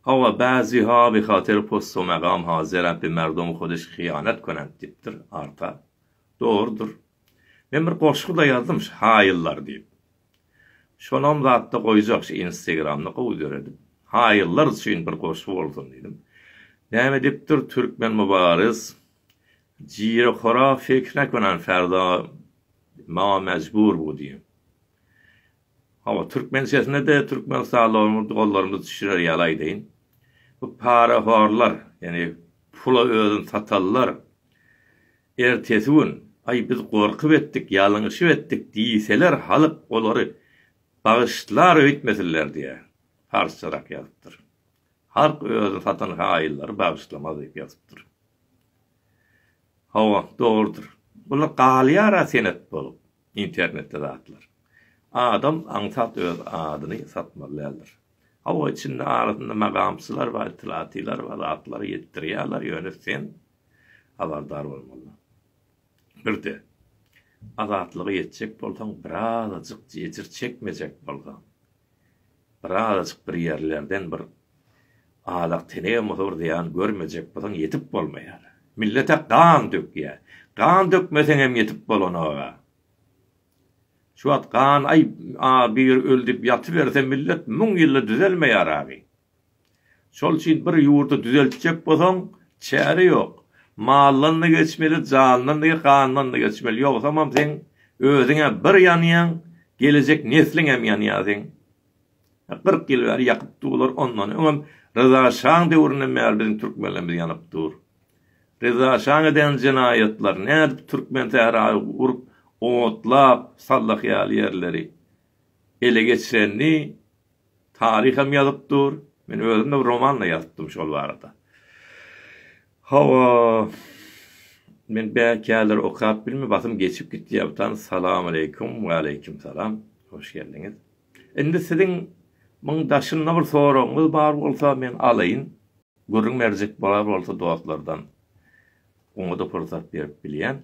Speaker 1: Hawa bäzi ha bihatyr post o megam ha zerap bi merdum hudiş hyýanat könent dipdir arta. Dogrudyr. Men bir goşgy da ýazdym ş haýyllar diýip. Şonam zatda goýjak ş instagramda gowy döredip. Haýyllar üçin bir goşgy bolsun diýdim. Näme dipdir türkmen mubaris. Jire-hora seksräk baran Ferda maňa mejbur bu diýen. Hawa, türkmençesine-de türkmenistanlylarymyz, doganlarymyz düşürer ýaly aýdaýyn. Bu parahorlar, ýagny pula özüni satanlar ertesi gün, Aý, biz gorkup etdik, ýalňyşyp etdik diýseler, halk olary bagyşlar öýtmesinler diýýär. Parsçarak ýazypdyr. Halk özüni satan haýyllary bagyşlamaz diýip ýazypdyr. Hawa, dogrudyr. Bular galýar-a senet bolup, internetde zatlar. Adam aňsat öz adyny satmaly däldir. Hawa, içinde arasynda magamçylar bar, itlatiler bar, zatlar ýetdirýärler, ýöne sen habardar bolmaly. Bir-de, azatlyga ýetjek bolsaň, birazajyk jejir çekmejek bolsaň, Birazajyk bir ýerlerden bir azak tenegem bolsa bir zyýan görmejek bolsaň ýetip bolmaýar. Millete gan dökýä. Gan dökmeseňem ýetip bolanoga. Şu wagt gan aý a bir ölüdip ýatyberse millet müň ýylda düzelmeýär agy. Şol üçin bir ýurdy düzeltjek bolsaň, çäre ýok. Maldan-da geçmeli, jandan-da, gandan-da geçmeli. Ýogsamam seň özüň-ä bir ýanýaň, gelejek nesliň hem ýanýar seň. Kyrk ýyl bäri ýakyp durlar, ondan öňem Ryza şaň döwründen bäri biziň türkmenlerimiz ýanyp dur. Ryza şaň eden jenaýatlary, nädip Türkmensährany urup, otlap, sallaky ýaly ýerleri. ele geçirenini taryh hem ýazyp dur. Men özüm-de bir roman-da ýazypdym şol barada. Hawa, men bäkärler okap bilme, basym geçip gitýär bu tany. Salamaleýkum, waleýkim salam, hoş geldiňiz. Indi siziň muň daşynda bir soragyňyz bar bolsa, men alaýyn. Gürrüň berjek bolar bolsa dostlardan, oňa-da pursat berip bilýän.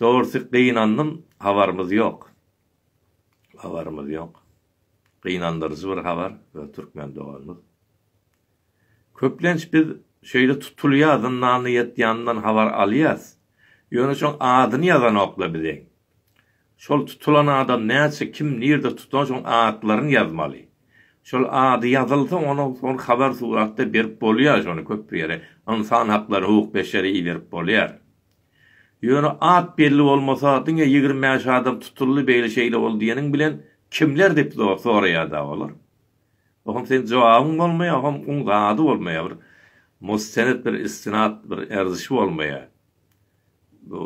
Speaker 1: Dogrusy gynandym habarymyz ýok. Habarymyz ýok. Gynandyryjy bir habar öz türkmen doganymyz. Köplenç biz şeýle tutulýar zyndanda ýatýanyndan habar alýas. Ýöne şoň adyny ýazanokla bizeň. Şol tutulan adam näçe kim nirde tutan şoň atlaryny ýazmaly. Şol ady ýazylsa onuň soň habar suratda berip bolýar şony köp ýere ynsan haklary hukuk beşeri iberip bolýar. Ýöne at belli bolmasa diňe ýigrimi bäş adam tutuldy beýle şeýle boldy diýeniň bilen kimler diýip soraýada olar. Oňa seň jogabyň bolmaýa oňa oň zady bolmaýa bir mustened bir istinad bir erzişi bolmaýa. Bu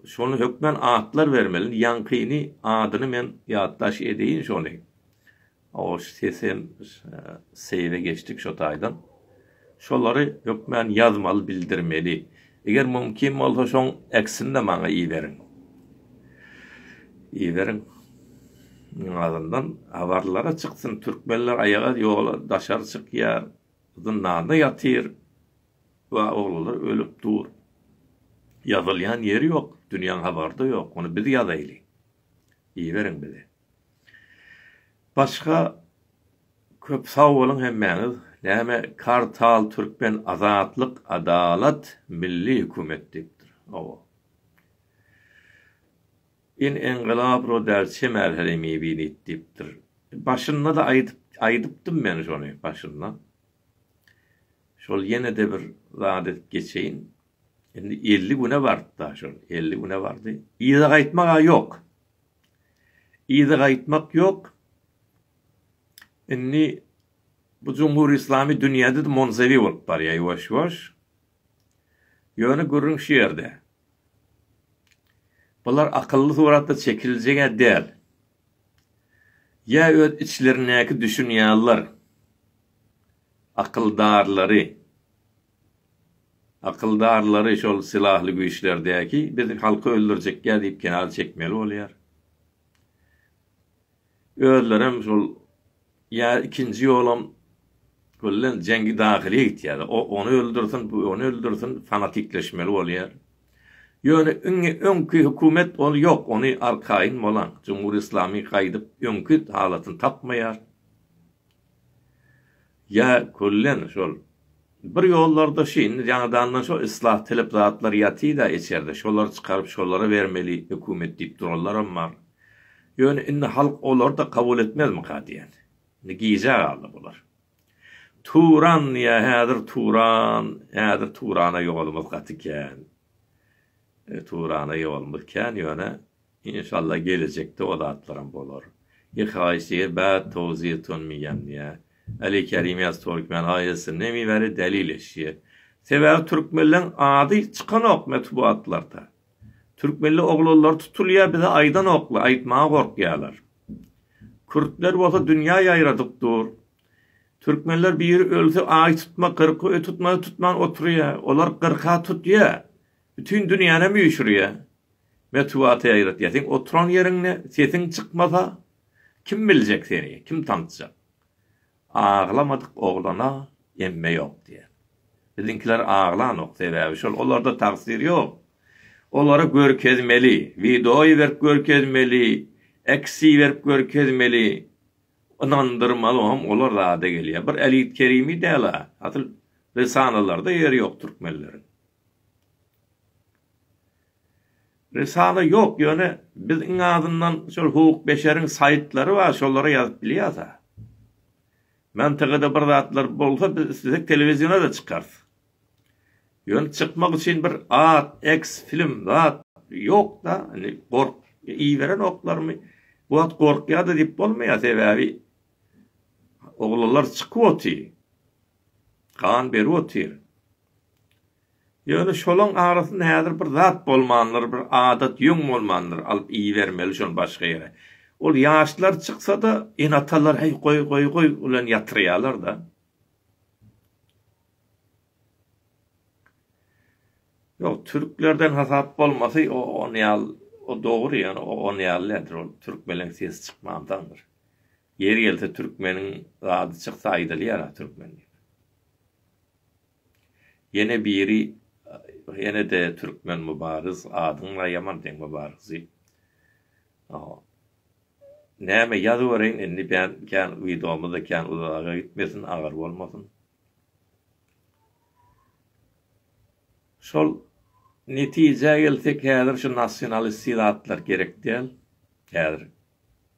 Speaker 1: şony hökmän atlar bermeli ýaňkyny adyny men ýatdaş edeýin şony. Hoş sesem seýre geçdik şo taýdan. Şolary hökmän ýazmaly bildirmeli. Eger mumkin bolsa şoň eksinde maňa iberiň. Iberiň. Iň azyndan habarlara çyksyn türkmenler aýaga ýola daşary çykýar. Zyndanda ýatyr. Wa oglular ölüp dur. Ýazylýan ýeri ýok. Dünýäň habarda ýok. Ony biz ýazaýly. Iberiň bize. Başga köp sag boluň hemmäňiz. Näme Kartal Türkmen Azatlyk Adalat Milli Hökümet diýipdir. Hawa. In Engylap Rudal Çemel Herimi Binit diýipdir. Başynda-da aýdyp aýdypdym men şony başynda. Şol ýene-de bir zat edip geçeýin. Indi elli güne bardy-da şol. Elli güne bardy. Yza gaýtmak-a ýok. Yza gaýtmak ýok. Indi bu jumhur islamy dünýäde-de monzewi bolup barýar ýuwaş-ýuwaş. Ýöne gürrüň şu ýerde. Bular akylly suratda çekiljeg-ä däl. Ýa öz içlerindäki düşünýärler akyldarlary. Akyldarlary şol sylahly güýçlerdäki biz halky öldürjekýa diýip kenara çekmeli bolýar. Özlerem şol ýa ikinji ýolam bolýan jengi dahylyýa gitýär. O ony öldürsin, bu ony öldürsin fanatikleşmeli bolýar. Ýöne iňňe öňki hökümet ol ýok, ony arkaýyn bolan Jumhur Islamy gaýdyp öňki halatyny tapmaýar. Ýa küllen şol bir ýollarda şu indi ýaňadandan şo islah tilip zatlar ýatyda içerde şolary çykaryp şolara bermeli hökümet diýip duranlaram bar. Ýöne indi halk olary-da kabul etmezmika diýen. Indi gijä galdy bular. Turan diýýä häzir Turan häzir Turana ýolumyz gaty kän. Turana ýolumyz kän ýöne Inşallah gelejekde o zatlaram bolar. Yhai sir bad towzir tun miyan diye. Ali Kerim yaz Turkmen ailesi nemi beri deli leşi. Sebabi Türkmenleň ady çykanok metbuatlarda. Türkmenli oglanlar tutulya bize aydanokla aytmaga gorkyalar. Kürtler bolsa dünya yayradyp dur. Türkmenler biri ölse ay tutma kyrky tutmasa tutman oturya. Olar kyrka tutya. Bütin dünýänem üýşürýä. Metbugata ýaýratýa. Seň oturan ýeriňde sesiň çykmasa, kim biljek seni, kim tanysjak? Aglamadyk oglana emme ýok diýýär. Biziňkiler aglanok, sebäbi şol, olarda tagsyr ýok. Olary görkezmeli, wideoýy berip görkezmeli, eksi berip görkezmeli, ynandyrmaly, oňam olar zada gelýär. Bir Elit Kerimi däl-ä, asyl risalalarda ýeri ýok türkmenleriň. Risala ýok, ýöne biz iň azyndan şol huwuk-beşeriň saýtlary bar, şolara ýazyp bilýäs-ä. Mantygada bir zatlar bolsa, biz islesek telewiziona-da çykarys. Ýöne çykmak üçin bir at, eks, film, zat ýok-da, indi gork, iberenoklarmy, bu wagt gorkýar-da diýip bolmaýar, sebäbi oglanlar çykyp otyr, gan berip otyr. Ýöne şolaň arasynda häzir bir zat bolmandyr, bir adat ýöň bolmandyr, alyp iýibermeli şony başga ýere. Ol ýaşlar çyksa-da, ene-atalar heý, goý, goý, goý bilen ýatyrýarlar-da. Ýok, türklerden hasap bolmasy o on ýal, o dogry ýöne o on ýal däldir, ol türkmeleň sesi çykmandandyr. Ýeri gelse türkmeniň zady çyksa aýdylýar-a türkmen diýip. Ýene biri ýene-de türkmen Mubaryz adyňa ýaman deň Mubaryzy. Näme ýazybereýin indi ben kän widomyzda kän uzaga gitmesin agyr bolmasyn. Şol netijä gelsek häzir şu nasionalisti zatlar gerek däl. Häzir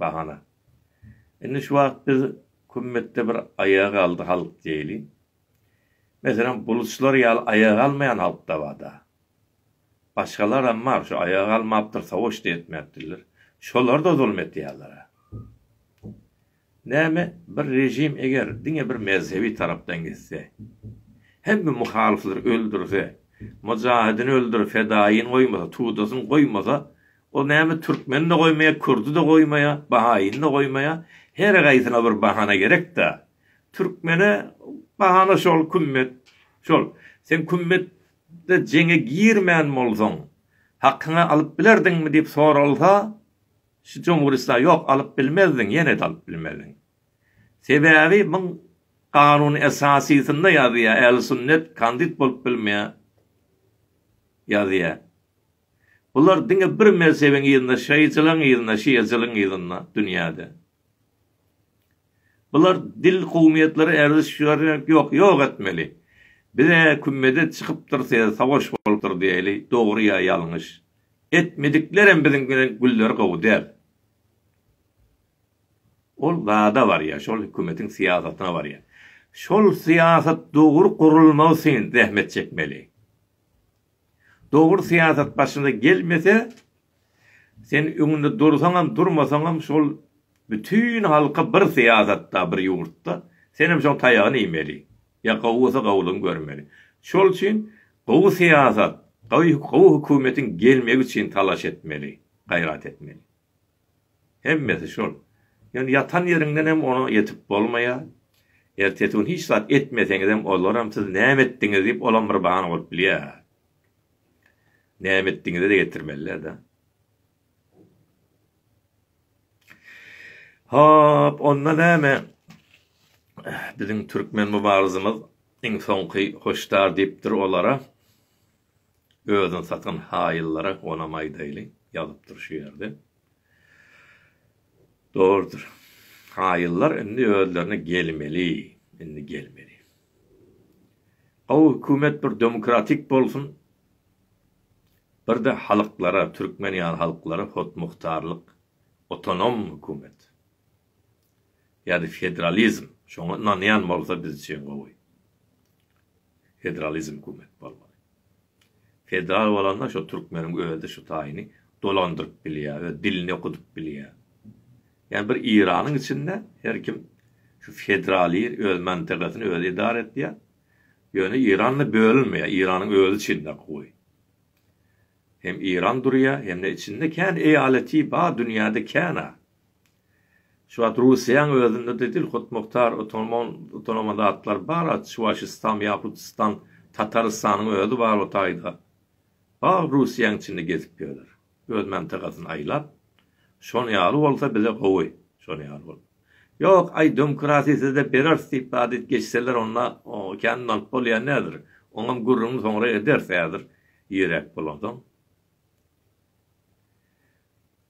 Speaker 1: Bahana. Indi şu wagt biz kümmetde bir aýaga galdy halk diýeli. Meselem, buluçlar ýaly aýaga galmaýan halk-da bar-da. Başgalaram bar, şu aýaga galmapdyr, sowaş-da etmäpdirler. Şolar-da zulum edýärler-ä. Näme, bir režim eger diňe bir mezhebi tarapdan gitse, hemme muhalyflary öldürse, mujahidini öldürip fedaýyny goýmasa, tudasyny goýmasa, Ol näme türkmeni-de goýmaýa, kürdi-de goýmaýa, bahaýyny-da goýmaýa, her gaýsyna bir bahana gerek-dä. Türkmene bahana şol kümmet, şol. Sen kümmetde jeňe girmän bolsaň, hakyňy alyp bilerdiňmi diýip soralsa, şu jumhuristler, ýok, alyp bilmezdiň, ýene-de alyp bilmezdiň. Sebäbi muň Kanuny Esasysynda ýazýar, Ählüsünnet kandit bolup bilmeýär ýazýar. Bular diňe bir mezhebiň yzynda şaýyjylaň yzynda şiacylyň yzynda dünýäde. Bular dil kowmyýetlere erziş şügerek ýok ýok etmeli. Bize kümmede çykypdyr size savaş bolupdyr diýeli dogry ýa ýalňyş. Etmediklerem biziň bilen gülleri gowy däl. Ol zada barýa şol hükümetiň syýasatyna barýa. Şol syýasat dogry gurulmagy syn zähmet çekmeli. Dogry syýasat başyna gelmese, sen öňünde dursaňam, durmasaňam şol bütin halka bir syýasatda, bir ýurtda senem şoň taýagyny iýmeli. Ýa gowy bolsa gowulygyny görmeli. Şol üçin gowy syýasat, gowy hökümetiň gelmegi üçin talaş etmeli, gaýrat etmeli. Hemmesi şol. Ýöne ýatan ýeriňdenem oňa ýetip bolmaýar. Ertesi gün hiç zat etmeseňizem olaram siz näme etdiňiz diýip olam bir bahana bolup bilýär. Näme etdiňizi-de getirmeliler-de. Hop, onda näme? Biziň türkmen mübarizimiz iň soňky hoşdar diýipdir olara. Özüni satan haýyllara onam aýdaýly, ýazypdyr şu ýerde. Dogrudyr. Haýyllar indi özlerine gelmeli, indi gelmeli. Gowy hökümet bir demokratik bolsun, birde halyklara, türkmen ýaly halyklara hotmuhtarlyk, otonom hökümet. ýa-da federalizm şoňa ynanýan bolsa biz üçin gowy. Federalizm hökümet bolmaly. Federal bolanda şo türkmeniň özi şu taýyny dolandyryp bilýär, öz dilini okudyp bilýär. Ýa bir Iranyň içinde her kim şu federaliýr öz mantagasyny özi edara etýär. Ýöne Iranda bölünmeýär, Iranyň özi içinde gowy. Hem Iran durýar, hem-de içinde kän eýaleti bar dünýäde kän-a. Şu wagt Russiýaň özünde-de dil hutmuktar utanman utanama zatlar bar a Çuwaşystan, Ýahutistan, Tatarystanyň özi bar o taýda. Bal Russiýaň içinde gezip ýörler. Öz mantagasyny aýlap. Şon ýaly bolsa bize gowy. Şon ýaly bolup. Ýok, aý dömkirasy size bereris diýip badyt geçseler onda o kän nalyp bolýa nedir. Oňam gürrüňini soňra ederis häzir ýeräk bolansoň.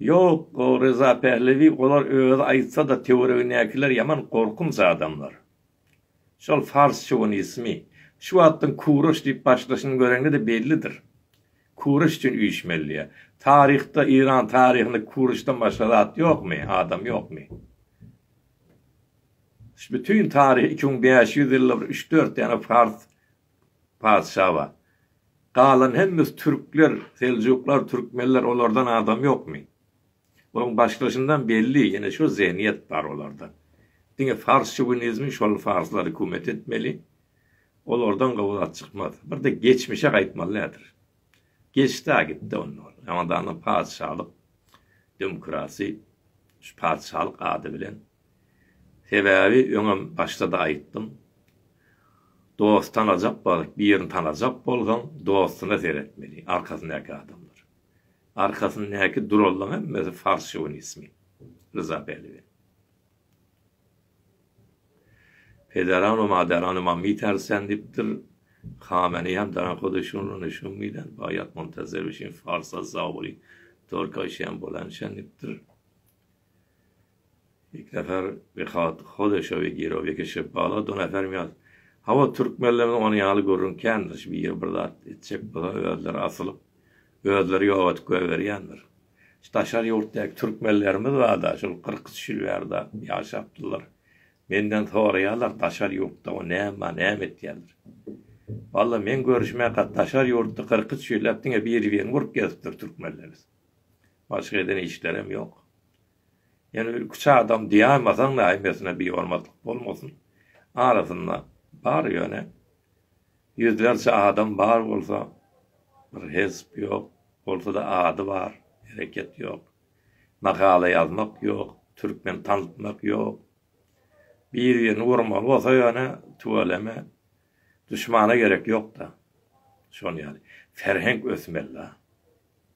Speaker 1: Ýok, Ryza Pählewi olar özi aýtsa-da töweregindäkiler ýaman gorkunç adamlar. Şol fars şowinismi, şu wagtdan kuraş diýip başlaşyny göreňde-de bellidir. Kuraş üçin üýşmelidiýä. Taryhda, Eýran taryhynda kuraşdan başga zat ýokmy, adam ýokmy? Şu bütin taryh iki müň bäş ýüz ýylda bir üç-dört däne fars patyşa bar. Galan hemmesi türkler, seljuklar, türkmenler, olardan adam ýokmy? Onuň başlaşyndan belli, ýene şo zehniýet bar olarda. Diňe fars şovinizmi şol farslar hükümet etmeli. Olardan gowy zat çykmaz. Bir-de geçmişe gaýtmaly nädir? Geçdi-ä gitdi onda ol. Hamadanda patyşalyk, demokrasi, şu patyşalyk ady bilen Sebäbi öňem başda-da aýtdym. Dost tanajak baryp birini tanajak bolsaň dostuna seretmeli, arkasyndaky adamlar. Arkasyndaky durallaň hemmesi fars şowinismi. Ryza Pälwän. Pederano maderano mammy tersen dipdir. Kameneý hem darakoda şun rony şun miden bayat montazer üçin farsa zauli torka şen bolan şen dipdir. Miknazar Behat Hodeşa we Giro Bekeşe bala donafermýas. Hawa, türkmenlerde ony ýaly gürrüň kändir, şu biri bir zat etjek bolsa özleri asylyp, özleri ýok edip goýberýändir. Şu daşary ýurtdaky türkmenlerimiz barda, şol kyrk üç ýyl bärde ýaşapdylar. Menden soraýarlar, daşary ýurtda o näme bar, näme etýändir. Walla, men görüşmäka daşary ýurtda kyrk üç ýyllap diňe bir-birini urup gezipdir türkmenlerimiz. Başga eden işlerem ýok. Ýöne bir iki-üç adam diýäýmasaň-da hemmesine bir hormatlyk bolmasyn. Arasynda bar ýöne. Ýüzlerçe adam bar bolsa, bir hezp ýok. Bolsa-da ady bar, hereket ýok. Makala ýazmak ýok, türkmen tanaltmak ýok. Bir-birini urmaly bolsa ýöne, tüweleme. Duşmana gerek ýok-da. Şol ýaly. Ferhenk ösmeli-dä.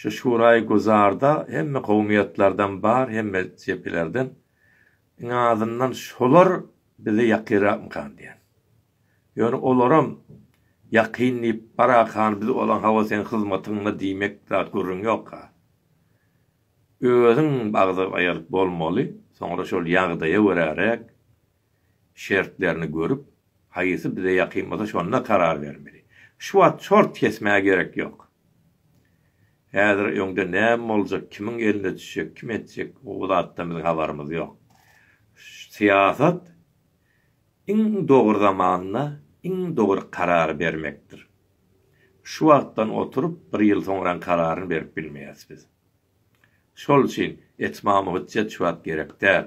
Speaker 1: Şu şuraý güzarda hemme kowumyýetlerden bar, hemme jepilerden. Iň azyndan şolar bize ýakynrakmykan diýen. Ýöne olaram ýakyn diýip barakan biz ola hawa seň hyzmatyňda diýmek zat gürrüň ýok-a. Özüň agza aýaryp bolmaly, soňra şol ýagdaýa göräräk şertlerini görüp, haýsy bize ýakyn bolsa şonda karar bermeli. Şu wagt çort kesmäge gerek ýok. Häzir öňde näme boljak, kimiň eline düşjek, kim etjek, bu zatdan biziň habarymyz ýok. Syýasat iň dogry zamanda iň dogry karary bermekdir. Şu wagtdan oturyp bir ýyl soňraň kararyny berip bilmeýäs biz. Şol üçin etmama hüjjet şu wagt gerek däl.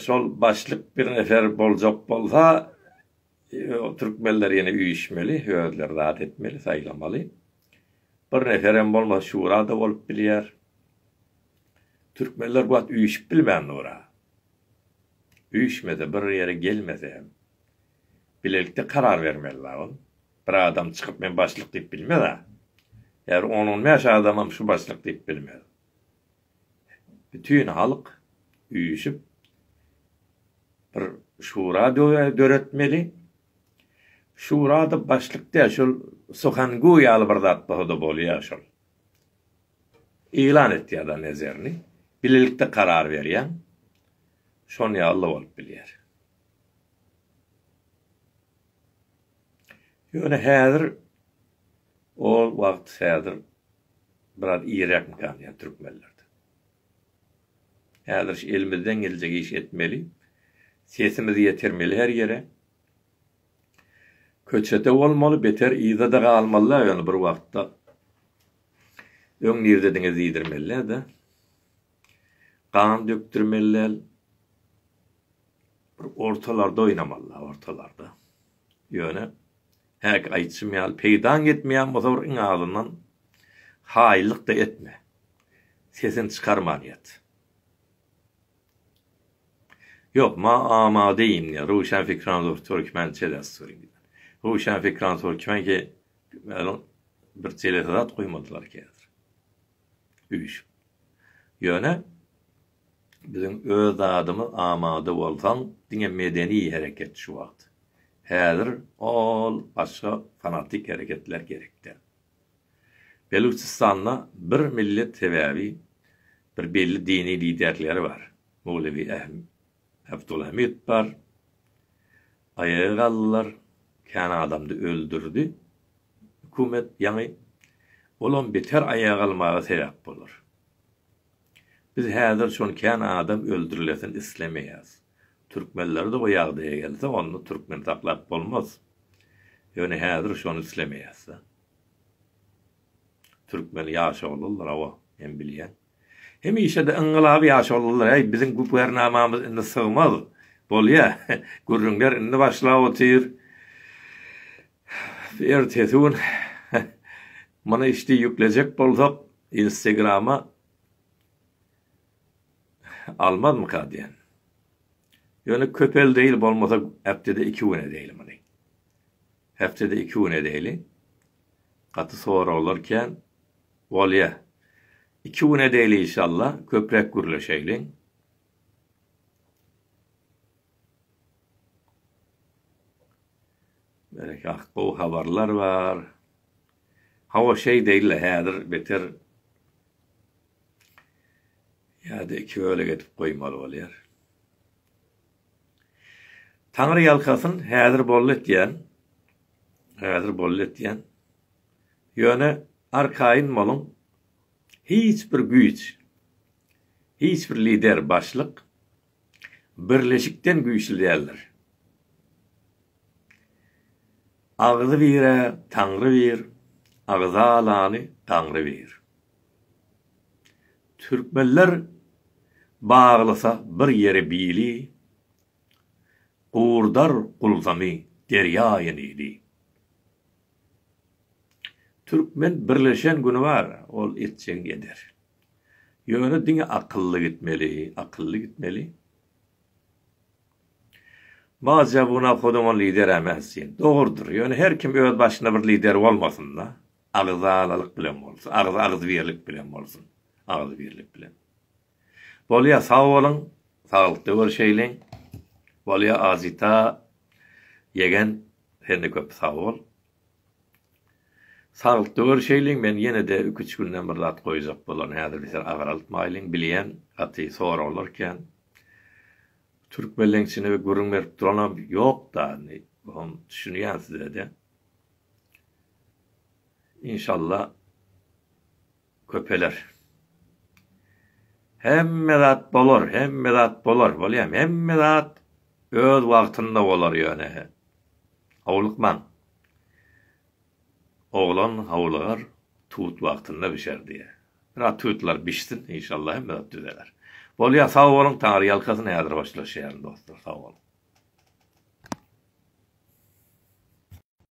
Speaker 1: Şol başlyk bir nefer boljak bolsa, türkmenler ýene üýşmeli, özleri zat etmeli, saýlamaly. Bir neferem bolmasa şura-da bolup bilýär. Türkmenler bu wagt üýşüp bilmän dur-a. Üýşmese, bir ýere gelmese hem, bilelikde karar bermeli-la ol. Bir adam çykyp men başlyk diýip bilmez-ä. Ýa bir on-on bäş adamam şu başlyk diýip bilmez. Bütin halk üýşüp bir şura döretmeli. Şurada başlyk däl şol Suhangu ýaly bir zat bolsa-da bolýar şol. Yglan etýär da nezerini. Bilelikde karar berýäň. Şon ýaly-da bolup bilýär. Ýöne häzir ol wagt häzir biraz ýiräkmikä alýar türkmenlerde. Häzir şu elimizden geljek iş etmeli. Sesimizi ýetirmeli her ýere. Köçede bolmaly, beter yzada galmalyda ýöne bir wagtda. Öň nirdediňiz diýdirmelidä. Gan dökdirmeli däl. Bir ortalarda oýnamalyda, ortalarda. Ýöne, häki aýdyşym ýaly, peýdaň ýetmeýän bolsa bir iň azyndan haýyllyk-da etme. Sesini çykarman ýat. Ýok, ma amade indi röwşenfkran zor türkmen çeles suring. Röwşenfkran türkmen ki meniň bir çelese zat goýmadylar ki häzir. Üýşüp. Ýöne, Biziň öz zadymyz amada bolsaň diňe medeni hereket şu wagt. Häzir ol başga fanatik hereketler gerek däl. Belujistanda bir millet sebäbi bir belli dini liderleri bar. Mowlewi Abdulhamid bar. Aýaga galdylar. Kän adamdy öldürdi hökümet ýaňy. Olam beter aýaga galmaga sebäp bolar. Biz häzir şol kän adam öldürilesin islemeýäs. Türkmenlerde o ýagdaýa gelse onda türkmen saklap bolmaz. Ýöne häzir şony islemeýäsda. Türkmen ýaşoluldyr hawa men bilýän. Hemişede yngylaby ýaşoluldyr äý biziň güpernamamyz indi sygmaz. Bolýa gürrüňler indi başlap otyr. Ertesi gün muny işdi ýüklejek bolsak Instagrama almazmyka diýen. Ýöne köpel değil bolmasa hepdede iki gün edeyli muny. Hepdede iki gün edeyli. Gaty soraglar kän. Bolýa. İki gün edeyli inşallah köprek gürleşeyli. Berekah gowy habarlar bar. Hawa şeý deýle häzir beter ýada iki bölek edip goýmaly bolýar. Taňry ýalkasyn häzir boldy etýän. Häzir boldy etýän. Ýöne arkaýyn boluň hiç bir güýç hiç bir lider başlyk Birleşikden güýçli däldir. Agzy birä Taňry bir, agza alany Daňry bir. Türkmenler baglysa bir ýere bili, gurdar gulzamy derýa Enili. Türkmen birleşen güni bar, ol etjegini eder. Ýöne diňe akylly gitmeli, akylly gitmeli. Maja bu nawhoduňa lideräm ätsin. Dogrudyr. Ýöne her kim öz başyna bir lider bolmasynda. Agzalalyk bilen bolsun. Agzy agzybirlik bilen bolsun. Agzybirlik bilen. Bolýa sag boluň. Saglykda görşeýliň. Bolýa Azita ýegen sende köp sag bol. Saglykda görüşeýliň men ýenede iki üç günden bir zat goýjak bolan häzir biser agraltmaýlyň bilýän gaty soraglar kän türkmenleňçini bir gürrüň berip duranam ýokda indi hom düşünýän sizede inşallah. köpeler. Hemme zat bolar, hemme zat bolar, bolýamy? Hemme zat öz wagtynda bolar ýöne. Howlukmaň. Oglan howlugar, tut wagtynda bişer diýýär. Biraz tutlar bişsin, inşallah hemme zat düzeler. Bolýar, sag boluň, Taňry ýalkasyn, häzir hoşlaşýaryn dostlar, sag boluň.